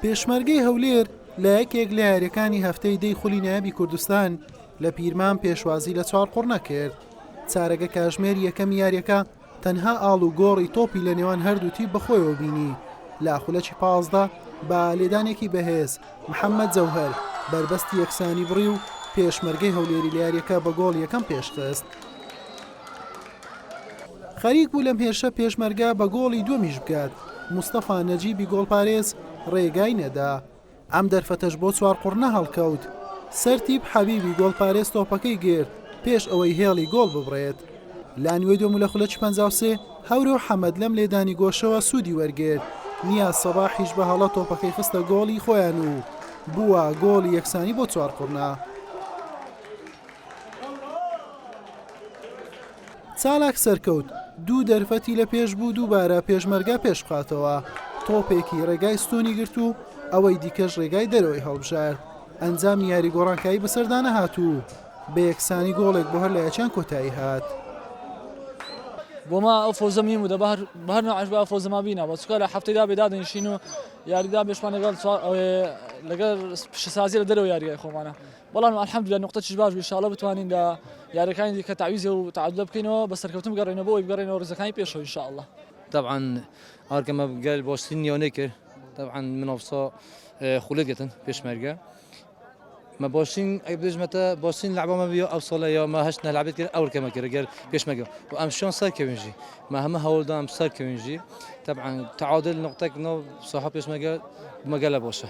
پێشمەرگەی هەولێر لە یەکێک لە یاریەکانی هەفتەی دەی خولی نایابی کوردستان لە پیرمان پێشوازی لە چوار قڕنە کرد چارەگە کاژمێر یەکەم یاریەکە تەنها ئاڵ و گۆڕی تۆپی لە نێوان هەردووتی بەخۆیەوە بینی لە خولەکی پازدە بە لێدانێکی بەهێز محەممەد جەوهر بەربەستی یەکسانی بڕی و پێشمەرگەی هەولێری لە یاریەکە بە گۆڵ یەکەم پێشخست خەریک بوو لەم هێرشە پێشمەرگە بە گۆڵی دووەمیش بگات، مستەفا نەجیبی گۆڵپارێز رێگای نەدا، ئەم دەرفەتەش بۆ چوارقوڕنە هەڵکەوت، سەرتیپ حەبیبی گۆڵپارێز تۆپەکەی گرت پێش ئەوەی هێڵی گۆڵ ببڕێت لە نوێ دووەم و لە خولەکی پەنجا و سێ هەورۆ حەمەد لەم لێدانی گۆشەوە سوودی وەرگرت، نیاز سەباحیش بە هەڵە تۆپەکەی خستە گۆڵی خۆیان و بووە گۆڵی یەکسانی بۆ چوارقوڕنە. چالاک سەرکەوت، دوو دەرفەتی لە پێش بوو دووبارە پێشمەرگە پێش بخاتەوە، تۆپێکی رێگای ستوونی گرت و ئەوەی دیکەش رێگای دەرەوەی هەڵبژارد، ئەنجامی یاری گۆڕانکایی بەسەردا نەهات و بە یەکسانی گۆڵێک بۆ هەر لە یەکیان کۆتایی هات. بەڵام الحمدللە نوقتەکیش باش بوو ان شاءاللە بتوانین لە یاریەکانی دیکە تەعویزێ و تەعادولە بکەینەوە بە سەرکەوتن بگەڕێینەوە بۆ ئەوەی بگەڕێینەوە ڕیزەکانی پێشەوە ان شاءاللە. تەبعەن ئارگەمە گەل باشترین نیانەی کرد تەبعەن من ئەوسا خولێت گەتن پێشمەرگە ما باشترین ئەی بێژمەتە باشترین لەعبەمە بیا ئەو ساڵە یا ما هەشت نەلعبێت کرد ئەو کەمە کرد گەل پێشمەگە و ئەم شان سەر کەوێنژی ما هەمە هەوڵدام سەر کەوێنژی تەبعەن تعادل نقطەک نۆ ساحە پێشمەگە مەگەلە باشە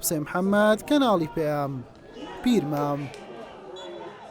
حسێن محەمەد، کەناڵی پەیام، پیرمام.